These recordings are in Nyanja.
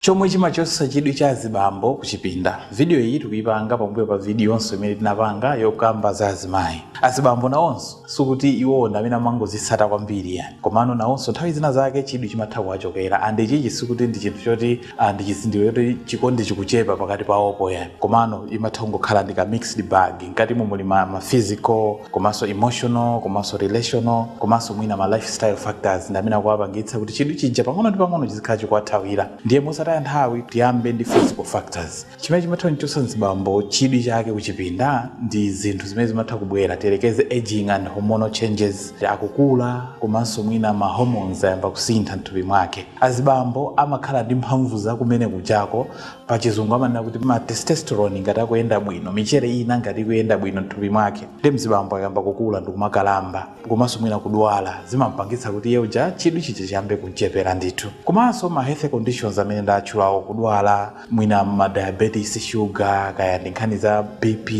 Chomwe chimachotsa chidwi cha azibambo kuchipinda. Video iyi tikuyipanga pambuyo pa vidiyonso imene tinapanga yokamba za azimayi. Azibambo nawonso sikuti iwowo ndi amene amangozitsata kwambiri yayi, komano nawonso nthawi zina zake chidwi chimatha kuwachokera and ichichi sikuti ndi chinthu choti ndi chizindikiro choti chikondi chikuchepa pakati pawopo yayi, komano imatha kungokhala ndi ka mixed bag, mkatimo muli ma, ma physical komanso emotional komanso relational komanso mwina ma lifestyle factors ndi amene akuwapangitsa kuti chidwi chija pang'ono ndi pang'ono chizikhala chikuwathawira ndiye mosataya nthawi tiyambe ndi physical factors chimene chimatha kuchotsa mzibambo chidwi chake kuchipinda ndi zinthu zimene zimatha kubwera tiyerekeze aging and hormonal changes akukula komanso mwina ma hormones ayamba kusintha mthupi mwake azibambo amakhala ndi mphamvu zakumene kujako pachizungu amanena kuti ma testosterone ngati akuyenda bwino michere ina ngati ikuyenda bwino mthupi mwake ndiye mzibambo akayamba kukula ndikumakalamba komanso mwina kudwala zimampangitsa kuti iye uja chidwi chija chiyambe kumchepera ndithu komanso ma health conditions amene ndatchulawo kudwala mwina ma diabetes sugar kaya ndi nkhani za bp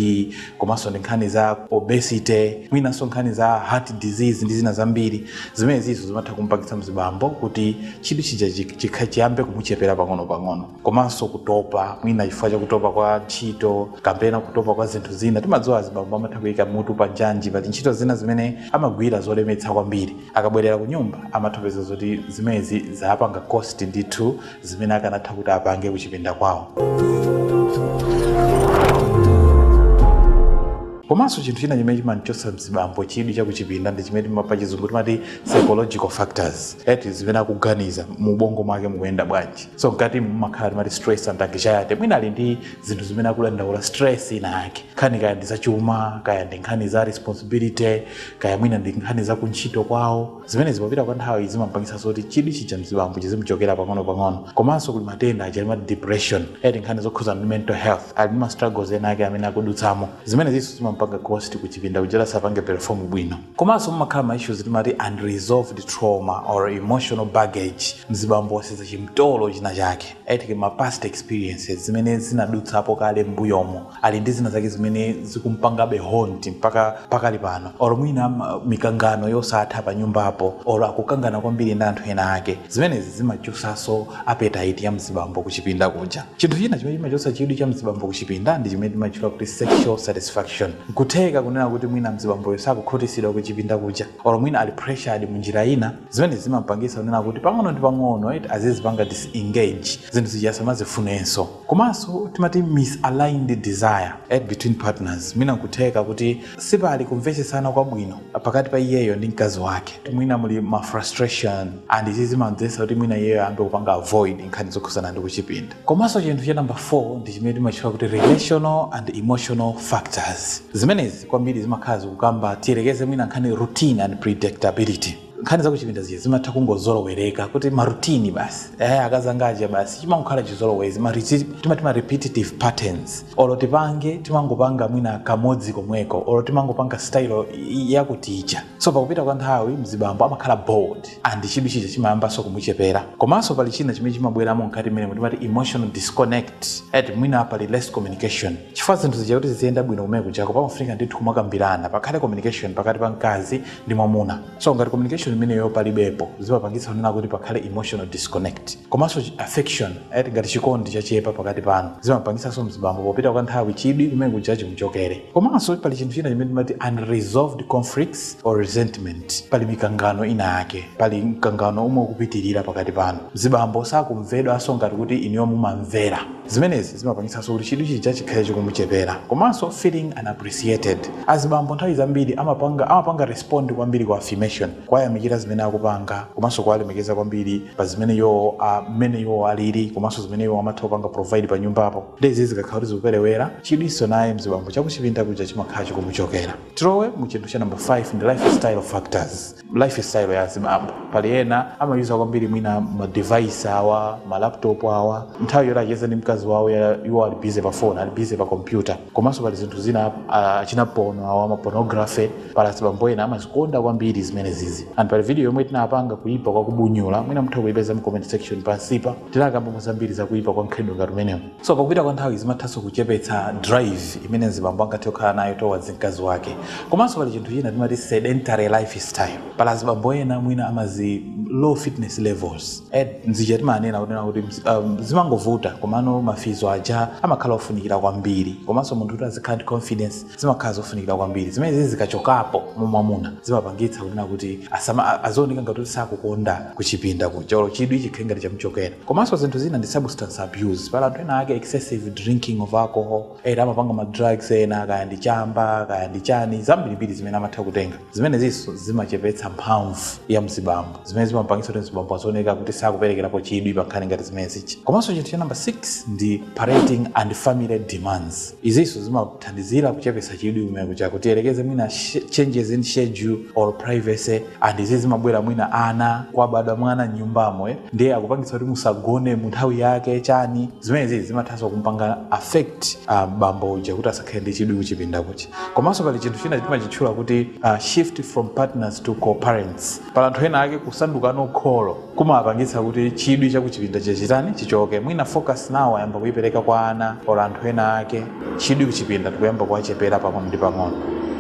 komanso ndi nkhani za obesity mwinanso nkhani za heart disease ndi zina zambiri zimene zizo zimatha kumpangitsa mzibambo kuti chidwi chija chikha- chiyambe kumuchepera pang'ono-pang'ono komanso kutopa mwina chifukwa chakutopa kwa ntchito kapena kutopa kwa zinthu zina timadziwa azibambo amatha kuyika mutu pa njanji pali ntchito zina zimene amagwira zolemetsa kwambiri akabwerera ku nyumba amatha kupeza zoti zimezi zapanga cost ndithu zimene akanatha kuti apange kuchipinda kwawo. komanso chinthu china chimene chimamuchotsa mzibambo chidwi chakuchipinda ndi chimene pa chizungu timati psychological factors eti zimene akuganiza mu ubongo mwake mukuyenda bwanji so mkati mumakhala timati stress and anxiety mwina ali ndi zinthu zimene akudandaula stress ina yake nkhani kaya ndi zachuma kaya ndi nkhani za responsibility kaya mwina ndi nkhani za kuntchito kwawo zimenezi popita kwa nthawi zimampangitsa zoti chidwi chija mzibambo chizimuchokera pang'ono-pang'ono komanso kuli matenda aja timati depression eti nkhani zokhuza ndi mental health ali ndi ma struggles ena ake amene akudutsamo zimenezinso zimampanga cost kuchipinda kuja sapange perform bwino komanso mumakhala ma issues timati unresolved trauma or emotional baggage mzibambo wasenza chimtolo china chake eti ma past experiences zimene anadutsamo kale mbuyomo ali ndi zina zake zimene zikumpangabe haunt mpaka pakali pano or mwina ma- mikangano yosatha pa nyumbapo or akukangana kwambiri ndi anthu ena ake zimenezi zimachosaso appetite ya mzibambo kuchipinda kuja chinthu china chimene chimachosa chidwi cha mzibambo kuchipinda ndi chimene timachula kuti sexual satisfaction kutheka kunena kuti mwina mzibamboyo sakukhutisidwa kuchipinda kuja or mwina ali pressured mu njira ina zimene zimampangisa kunena kuti pang'ono ndi pang'ono eti azizipanga disengage zinthu zija asamazifunenso Komanso timati misaligned desire. e. Between partners, mwina nkutheka kuti sipali kumvetsetsana kwabwino pakati pa iyeyo ndi mkazi wake. Mwina muli ma frustration and izi zimamdzetsa kuti mwina iyeyo ayambe kupanga avoid nkhani zokhudzana ndi kuchipinda. Komanso chinthu cha number 4 ndi chimene timatchula kuti relational and emotional factors. Zimenezi kwambiri zimakhala zikukamba, tiyerekeze mwina nkhani routine and predictability. nkhani za kuchipinda zija zimatha kungozolowereka kuti ma routine basi eh, akazangaja basi chimangokhala chizolowezi ma repeat- timati ma repetitive patterns olo tipange timangopanga mwina kamodzi komweko olo timangopanga style i- yakuti ija so pakupita kwa nthawi mzibambo amakhala bored and chidwi chija chimayambanso kumuchepera komanso pali china chimene chimabweramo mkati mmene timati emotional disconnect et mwina pali less communication chifukwa zinthu zija kuti ziziyenda bwino kumene kujako pamafunika ndithu kumakambirana pakhale communication pakati pa mkazi ndi mwamuna so ngati communication imeneyo palibepo zimapangitsa kunena kuti pakhale emotional disconnect komanso chi- affection right? ngati chikondi chachepa pakati panu zimapangitsanso mzibambo popita kwa nthawi chidwi kumene kuja chimuchokere komanso pali chinthu china chimene timati unresolved conflicts or resentment pali mikangano ina yake pali mkangano womwe ukupitirira pakati panu mzibambo sakumvedwanso ngati kuti inuyo mumamvera zimenezi zimapangitsanso kuti chidwi chija chikhale chikumuchepera komanso feeling unappreciated azibambo nthawi zambiri amapanga respond kwambiri kwa affirmation kuwayamikira zimene akupanga komanso kuwalemekeza kwambiri pa zimene iwowo ah, mmene iwowo alili komanso zimene iwowo amatha kupanga provide pa nyumbapo ndezi zikakhala kuti zikuperewera chidwinso naye mzibambo chakuchipinda kuja chimakhala chikumuchokera tilowe mu chinthu cha number 5 ndi lifestyle factors lifestyle ya azibambo pali ena amayuza kwambiri mwina ma device awa ma laptop awa nthawi yoti acheze ndi mkazi wawo ya- iwo ali busy pa phone ali busy pa computer komanso pali zinthu zina ah, achina pono awa ma pornography pali azibambo ena amazikonda kwambiri zimenezizi and pali video yomwe tinapanga kuyipa kwa kubunyula mwina mutha kuyipeza mu comment section pansipa tinakambamo zambiri za kuyipa kwa mkhalidwe ngati umenewu So pakupita kwa nthawi zimathanso kuchepetsa drive imene mzibambo angathe kukhala nayo towards mkazi wake. Komanso pali chinthu china timati sedentary lifestyle. Pali azibambo ena mwina amazi low fitness levels. Ed mzija timanena kunena kuti mz- um, zimangovuta komano mafizo aja amakhala ofunikira kwambiri komanso munthu kuti azikhala ndi confidence zimakhala zofunikira kwambiri zimenezi zikachokapo mu mwamuna zimapangitsa kunena kuti asama- a- azioneka ngati kuti sakukonda kuchipinda kuja olo chidwi chikhale ngati chamuchokera komanso zinthu zina ndi substance abuse pali anthu ena ake excessive drinking of alcohol ena amapanga ma drugs ena kaya ndi chamba kaya ndi chani zambirimbiri zimene amatha kutenga Zimenezinso zimachepetsa mphamvu ya mzibambo, zimene zimapangitsa kuti mzibambo azioneka kuti sakuperekerapo chidwi pa nkhani ngati zimenezizi. Komanso chinthu cha number 6 ndi parenting and family demands. Izinso zimathandizira kuchepetsa chidwi kumene kuja tiyerekeze mwina changes in schedule or privacy and izi zimabwera mwina ana kwabadwa mwana mnyumbamo eh? ndiye akupangitsa kuti musagone mu nthawi yake chani zimenezi zimathanso kumpanga affect uh, bambo uja kuti asakhale ndi chidwi kuchipinda kuja komanso pali chinthu china timachitchula kuti uh, shift from partners to co-parents pali anthu ena ake kusanduka kholo kumawapangitsa kuti chidwi chakuchipinda chichitani chichoke mwina focus now ayamba kuyipereka kwa ana or anthu ena ake chidwi kuchipinda ndikuyamba kuwachepera pang'ono ndi pang'ono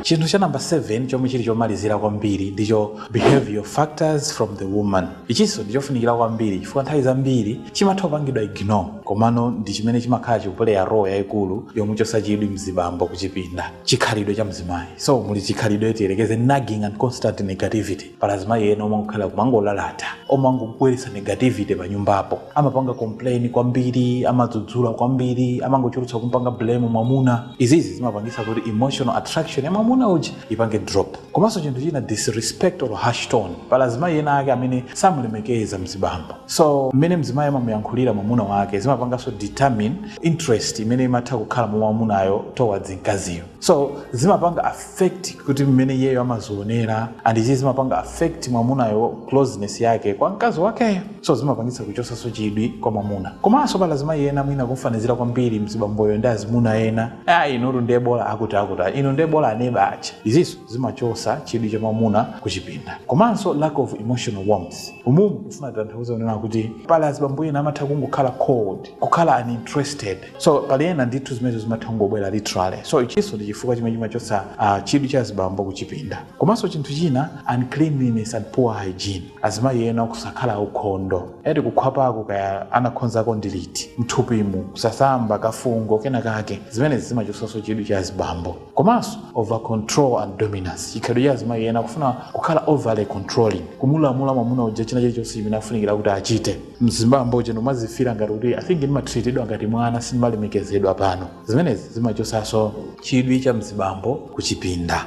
chinthu cha namba 7 chomwe chili chomalizira kwambiri ndicho behavioral factors from the woman Ichinso ndi chofunikira kwambiri chifukwa nthawi zambiri chimatha kupangidwa ignore komano ndi chimene chimakhala chikupuleya role yaikulu yomuchotsa chidwi mzibambo kuchipinda, chikhalidwe cha mzimayi. So muli chikhalidwe tiyerekeze nagging and constant negativity. Pali azimayi ena omangokhalira kumangolalata, omangobweretsa negativity panyumbapo. Amapanga complain kwambiri, amadzudzula kwambiri, amangochulutsa kumpanga blame mwamuna. Izizi zimapangitsa kuti emotional attraction ya mwamuna uja ipange drop. komanso chinthu china disrespect or harsh tone pali azimayi ena ake amene samulemekeza mzibambo so mmene mzimayi amamuyankhulira mwamuna wake zimapanganso determine interest imene imatha kukhala mwa mwamunayo towards mkaziyo so zimapanga affect kuti mmene iyeyo amazionera and izi zimapanga affect mwamunayo closeness yake kwa mkazi wakeyo so zimapangitsa kuchosaso chidwi kwa mwamuna komanso pali azimayi ena mwina kumfanizira kwambiri mzibamboyo ndi azimuna ena ah inutu ndiye bola akuti akuti inu ndiye bola aneba aja iziso zimachosa chidwi cha mwamuna kuchipinda komanso lack of emotional warmth umumu ndikufuna tanthauza kunena kuti pali azibambo ena amatha kungokhala cold kukhala uninterested so pali ena ndithu zimenezo zimatha kungobwera literally so ichiso ndi chifukwa chimene chimachosa uh, chidwi cha azibambo kuchipinda komanso chinthu china uncleanliness and poor hygiene azimayi ena kusakhala aukhondo eti kukhwapako kaya anakhonzako ndi liti mthupimu kusasamba kafungo kena kake zimenezi zimachosaso chidwi cha azibambo komanso over control and dominance chikhalidwe cha azimayi ena kufuna kukhala overly controlling kumulamula mwamuna uja china chilichonse chimene afunikira kuti achite mzibambo uja no amazifila ngati kuti i think ndimatreatedwa ngati mwana sindimalemekezedwa pano zimenezi zimachosaso chidwi cha mzibambo kuchipinda